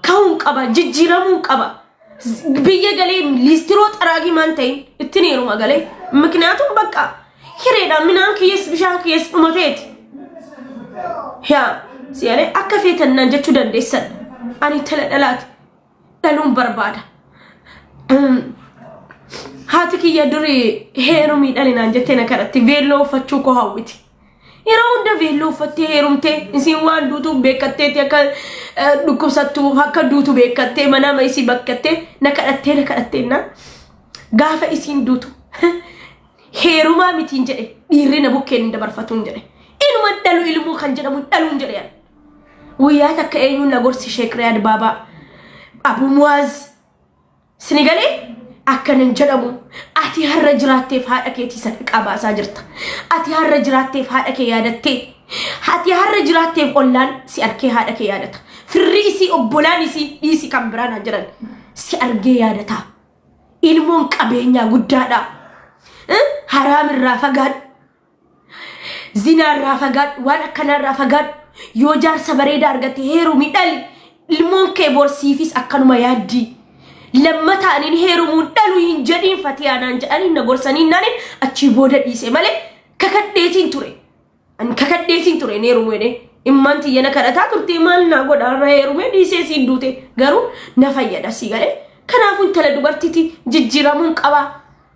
Ka'uun qaba, jijjiiramuun qaba. Z- Biyya galee liistiroo xaraagii maan ta'in ittiin heeruma galee. Mikniyaatum bakka hireedhaan minaan kiyyees bishaan kiyyees dhumateeti. Yaa si'alee akka feetan naan jechuu dandeessan. Ani tala dhalaati. Dhaluun barbaada. Haati kiyya durii heerumii dhalinaan jettee na kadhatti veelloo uffachuu koo hawwiti. Yeroo hunda veelloo uffattee heerumtee isiin waan duutuu beekatteeti akka eh, dhukkubsattu akka duutu beekattee manaa isii bakkattee na kadhattee na kadhattee na gaafa isiin duutu heerumaa mitiin jedhe dhiirri na bukkeen hin dabarfatuun jedhe inuma dhalu ilmoo kan jedhamu dhaluun jedhe ani. guyyaa takka eenyuun na gorsi sheek riyaad baabaa abu muwaaz Sinigalee akkanan jedhamu ati har'a jiraatteef haadha keetii sadaqaa baasaa jirta. Ati har'a jiraatteef haadha kee yaadattee. Ati har'a jiraatteef ollaan si arkee haadha kee yaadata. Firri isii obbolaan isii dhiisi kan biraan haa jiran si argee yaadata. Ilmoon qabeenyaa guddaadha. Eh, Haraamirraa fagaadhu. Zinaarraa fagaadhu, waan akkanaarraa fagaadhu. Yoo jaarsa bareedaa argatte heerumi dhali. Ilmoon kee borsiifis akkanuma yaaddii. Lammataa anin heerumuun dhalu hin jedhiin fatiyaa naan jedhanii na gorsanii naanin achii booda dhiise malee kakadheetiin ture. Ani kakadheetiin ture hin heerumu jedhee. Immaan tiyya na kadhataa turte maal naa godha irra heerumee dhiisee siin duute garuu na fayyada sii galee. Kanaafuu intala dubartiiti jijjiiramuun qabaa.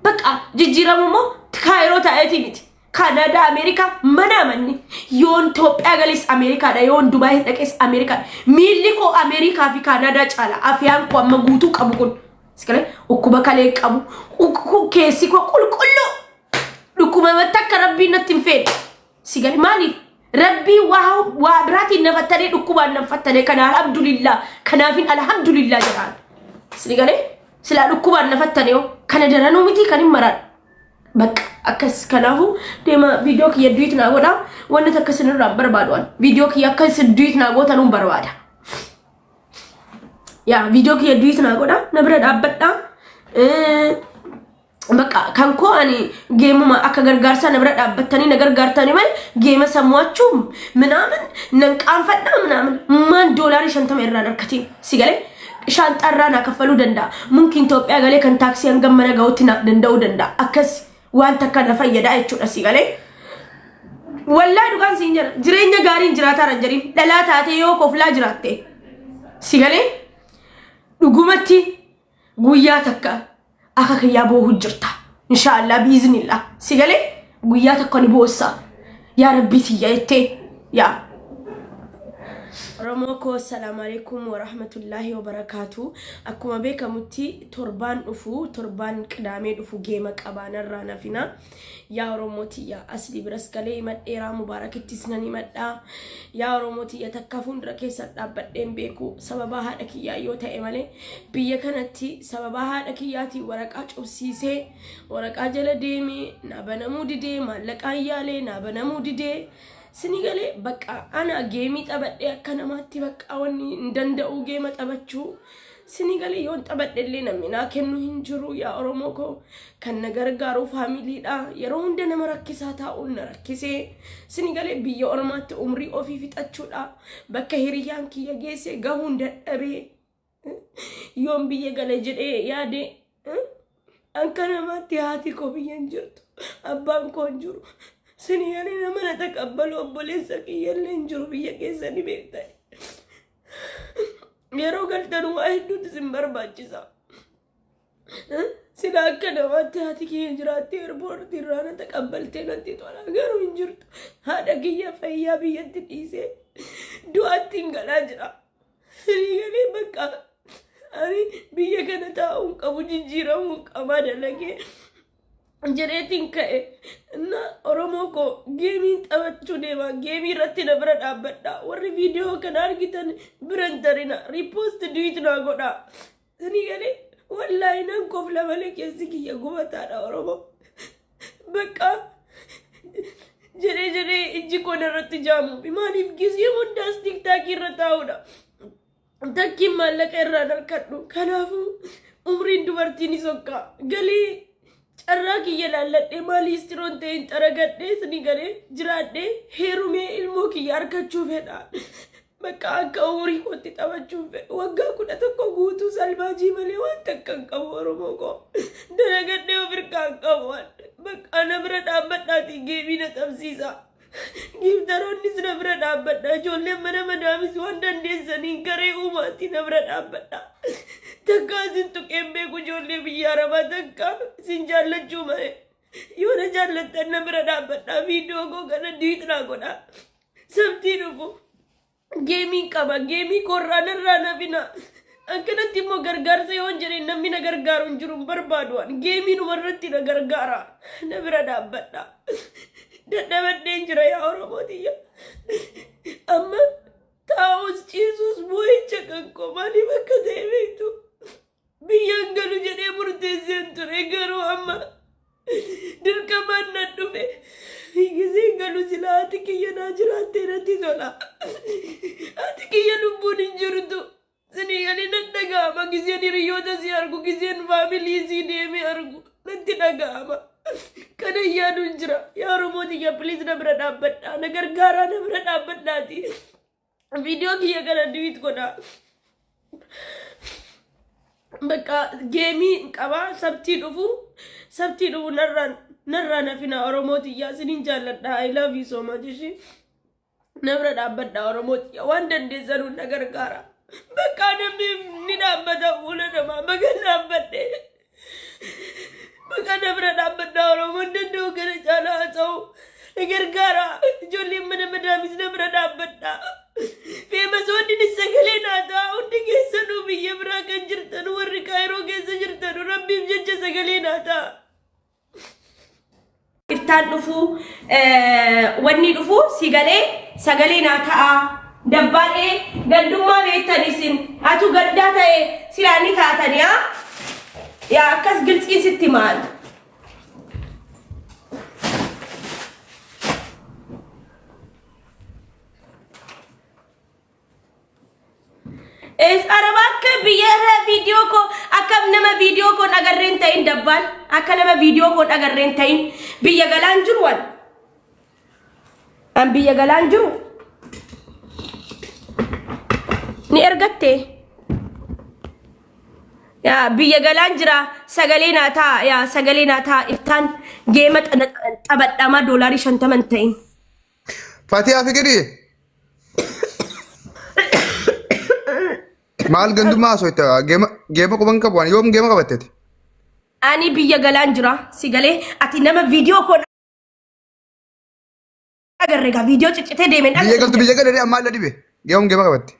Baqa jijjiiramu immoo kaayiroo taa'eetii miti. Kanadaa, Ameerikaa mana amanni. Yoon Itoophiyaa galees Ameerikaadha. Yoon Dubaayii dhaqees Ameerikaadha. Miilli koo Ameerikaa fi Kanadaa caala. Afyaan koo amma guutuu qabu kun. Iskalee dhukkuba kalee qabu. Dhuk- Keessi koo qulqulluu. Dhukkuba irratti akka rabbiin natti hin feene. Si gale maaliif? Rabbii waa waa biraatiin na fattanee dhukkubaan na fattanee kana alhamdulillah kanaafin alhamdulillah jedhaan. Si gale silaa dhukkubaan na fattanee hoo kana daranuu miti kan hin maraan. Bakka akkas kanaafuu deema viidiyoo kiyya duwit naa godha wanni takka isinirraa hin barbaadu an viidiyoo kiyya akka isin duwit naa gootan hin barbaada. Yaa viidiyoo kiyya duwit naa godha na bira dhaabbadha. Eh, Bakka kan koo ani geemuma akka gargaarsaa na bira dhaabbattanii na gargaartanii malee geema san mo'achuu minaamin nan qaanfadhaa minaamin maan doolaarii shantama irraan harkatiin si galee shaanxaa irraa naa kaffaluu danda'a mumkiin Itoophiyaa galee kan taaksii hangam mana ga'utti naaf danda'uu danda'a akkas waan takka na fayyadaa jechuudha si galee. Wallaa dhugaan siin jira jireenya gaariin jiraataa hin jirin dhalaa taatee yoo koflaa jiraatte si galee dhugumatti Guyyaa takka akka kiyyaa boohu jirta. Inshaallah biiznillah. Si galee guyyaa takka ni boossa. Yaa rabbii tiyya jettee yaa. Oromoo koo assalaamu alaikum warahmatullaahi wabarakaatu. Akkuma beekamutti torbaan dhufu torbaan qidaamee dhufu geema qabaanarraa nafina. Yaa Oromoo tiyya asli biras galee himadheeraa mubaarakittis nan himadhaa. Yaa Oromoo tiyya takka fuuldura keessan dhaabbadheen beeku sababaa haadha kiyyaa yoo ta'e malee biyya kanatti sababaa haadha kiyyaatiin waraqaa cufsiisee waraqaa jala deemee naa banamuu didee maallaqaa yaalee naa banamuu didee sini galee bakka ana geemii taphadhee akka namaatti bakka wanni hin danda'u geema taphachuu Sini galee yoon taphadhe illee namni naa kennu hin jiru yaa Oromoo koo kan na gargaaru faamiliidha yeroo hunda nama rakkisaa taa'uun na rakkisee sini galee biyya ormaatti umrii ofii fixachuudha bakka hiriyyaan kiyya geesse gahuun dadhabee yoon biyya gale jedhee yaade Akka namaatti haati koo biyya hin jirtu. Abbaan koo hin jiru. Sini yalee nama na taqabbalu obboleessa kiyyallee hin jiru biyya keessa ni beektan. Yeroo galtan waa hedduutu isin barbaachisa. Sila akka namaatti haati kiyya jiraattee erboorti irraa na taqabbaltee natti tola garuu hin jirtu. Haadha kiyya fayyaa biyyatti dhiisee du'aatti hin galaa jira. Firii galee bakka ani biyya kana taa'uun qabu jijjiiramuun qabaa dalagee jedheetiin ka'e. Inna Oromoo koo geemiin taphachuu deema. Geemii irratti na bira dhaabbadha. Warri viidiyoo kana argitan bira hin tarina. Riipoosti duwiit naa godha. Ani gale wallaahi nan kofla malee keessi kiyya gubataadha Oromoo. Bakka jedhee jedhee ijji koo narratti jaamu. Maaliif gisee hundaas tiktaakii irra taa'udha. Takkiin maallaqa irraa harkadhu. Kanaafuu umriin dubartiin ni sokka. Galee carraa kiyya laalladhee maalii istiroon ta'e hin xaragadhee sini galee jiraadhee heerumee ilmoo kiyya harkachuu fedha. Bakka akka umurii kootti taphachuun fedhu waggaa kudha tokko guutuu salbaajii malee waan takka hin qabu Oromoo koo. Dalagadhee of irkaa hin qabu waan. Bakka na bira dhaabbadhaatii geemii na taphsiisa. Giiftaroonnis na bira dhaabbadha. Ijoolleen mana madaamis waan dandeessaniin garee uumaatii na bira dhaabbadha. Takkaa isin tuqeen beeku ijoollee biyya arabaa takkaa isin jaallachuu malee. Yoo na jaallattan na bira dhaabbadha. Viidiyoo koo kana diitnaa godha. Sabtii dhufu geemiin qaba geemii koorraa narraa nafina akkanatti immoo gargaarsa yoon jedheen namni na gargaaru hin jiru hin barbaadu ani geemii dhuma irratti na gargaara na bira dhaabbadha dadhabadheen jira yaa oromoo tiyya amma taa'us ciisus boo'icha kan koo maaliif akka ta'e beektu Biyyaan galu jedhee murteesseen ture garuu amma dirqamaan nan dhufe. Giseen galu silaa haati kiyya naa jiraattee natti tola. Haati kiyya lubbuun hin jirtu. Sinii ani nan dhaga'ama giseen hiriyoota si argu giseen faamilii si deemee argu natti dhaga'ama. Kana yaaduun jira. Yaa Oromoo tiyya piliis na bira dhaabbadhaa. Na gargaaraa na bira dhaabbadhaati. Viidiyoo kiyya kana diwiit godha. Bakka geemii qaba sabtii dhufu sabtii dhufu narraan narraan hafina Oromoo tiyyaa sinin jaalladha I love you so much ishii. Nabra dhaabbadha Oromoo tiyya waan dandeessanu na gargaara. Bakka namni ni dhaabbata fuula namaa baga dhaabbadhe. Maqaa na bira dhaabbadhaa Oromoon danda'u kana caalaa haasa'u. Na gargaara. Ijoolleen mana madaamis na bira dhaabbadhaa. Feemasoonninis sagalee naa ta'a. Hundi keessanuu biyya biraa kan jirtan warri kaayiroo keessa jirtan rabbiif jecha sagalee naa ta'a. iftaan dhufuu wanni dhufuu si galee sagalee naa ta'aa dabbaadhee gandummaa beektan isin atu gandaa ta'e silaa ni taatan yaa yaa akkas giltsiin sitti maal Es araba akka biyya irraa viidiyoo koo akka nama viidiyoo koo dhagarreen ta'in dabbaan akka nama viidiyoo koo dhagarreen ta'in biyya galaan jiru waan an biyya galaan jiru ni ergatte yaa biyya galaan jira sagalee naa taa yaa sagalee naa taa iftaan geema xana- xabadhama doolaarii shantaman ta'in. Fatiyaa fikirii. Maal gandummaa osoo itti geema geema quban qabu ani yoom geema qabatteti. Ani biyya galaan jira si galee ati nama viidiyoo koo agarre egaa viidiyoo ciccitee deemeen Biyya galtu biyya galee ammaa illa dhibe yoom geema qabatte.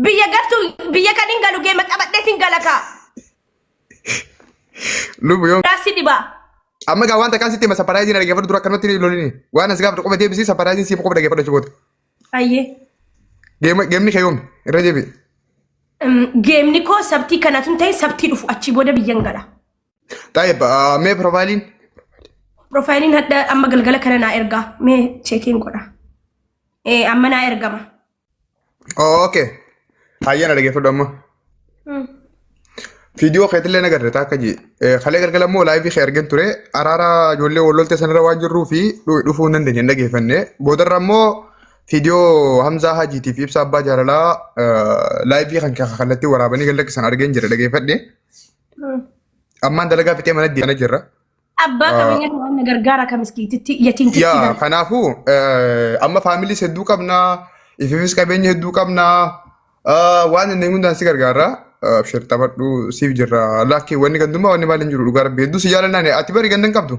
biyya galtu biyya kan hin galu geema qabadheetiin galakaa. Lubu yoo Daasi dhibaa. amma gaa waan takkaan sitti hima sapparaayiziin dhaggeeffadhu dura akkanumatti hin lolini. Waan as gaafadhu qofa deebisii sapparaayiziin siif qofa dhaggeeffadhu achi booda. Ayyee. Geema- Geemni kee yoomi irra deebi'i. Mm, Geemni koo sabtii kanatu hin ta'in sabtii dhufu achii booda biyyan gala. Xaayib mee piroofaayiliin Piroofaayiliin hadda amma galgala kana naa ergaa. Mee cheekiin godha. Ee amma naa ergama. Oh, okay. Hayyana dhaggeeffadhu amma. Mm. Viidiyoo keetillee nagarre taakka jee. Kalee galgala immoo laayivii kee argin ture. Araara ijoollee walloltee sanarra waan jirruu fi dhu- dhufuu hin dandeenye hin dhaggeeffanne. Boodarra immoo viidiyoo Hamzaa Hajiitiif ibsa abbaa jaalalaa eh, laayivii kan kee kallattii waraabanii gallakkisan argeen jira dhaggeeffadhe. Mm. Ammaan dalagaa fixee mana deemana jirra. Abbaa Ah. qabeenyaa kan na gargaara kan miskiititti yatiimtitti Yaa gargaara. kanaafuu eh, amma faamiliis hedduu qabna ififis qabeenya hedduu qabna Ah, waan inni hundaan si gargaara Ah, abshir taphadhu siif jirra laakkii wanni gandummaa wanni maal hin jiru dhugaa rabbi hedduu si jaalannaan ati bari ganda hin qabdu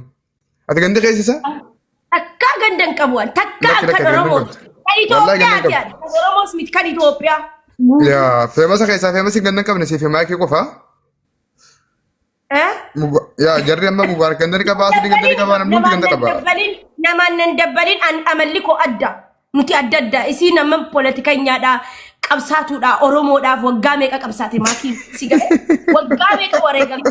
ati ganda keessa isa Takkaa ganda hin qabu ani. Takkaa Lakki, lakki, kan ganda hin Oromooti. qabdu. Kan Wallaahi ganda hin Itoophiyaati qabdu. ani. Kan Oromoos miti kan Itoophiyaa. yaa feemasa keessaa feemasi ganda hin qabne siif himaa kee qofa Eh? Muba- Yaa jarri amma mubaar kan dari qabaa asii kan dari qabaa namni hundi kan qabaa. dabbalin namaan nan dabbalin an amalli koo adda nuti adda adda isiin amma poolitikanyaadha qabsaatuudha oromoodhaaf waggaa meeqa qabsaate maatii si gahe waggaa meeqa wareegame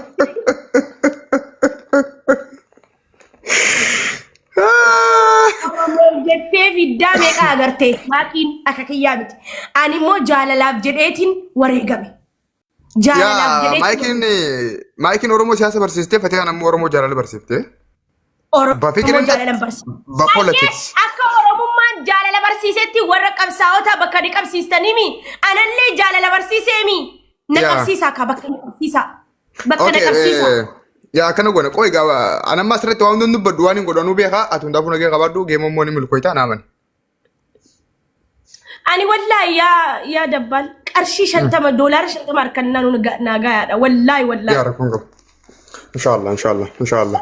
oromoo jettee fiddaa meeqa agartee maatiin akka kiyyaa miti ani immoo jaalalaaf jedheetiin wareegame Jaalalaaf Yaa jedhee maayikiin maayikiin Oromoo siyaasa barsiistee Fatiyaan ammoo Oromoo jaalala barsiifte. Oromoo Bafikirin jaalalan barsiisa. ba politics. Akka Oromummaan jaalala barsiisetti warra qabsaa'otaa bakka ni qabsiistaniimi. Anallee jaalala barsiiseemi. Na Yaa. qabsiisa akka bakka na qabsiisa. Bakka na Okay, qabsiisa. eh, yaa akkana goona qoy gaaba anamma asirratti waan hundin dubbadhu waan hin godhanuu beekaa ati hundaafuu nagee qabaadhu geemommoo ni milkooytaa naaman. Ani wallaahi yaa yaa dabbaal qarshii shantama doolaara shantama harkannaa nu naagaa yaadha wallaahi wallaahi. Yaa rakkoon qabu. Inshaallah inshaallah inshaallah.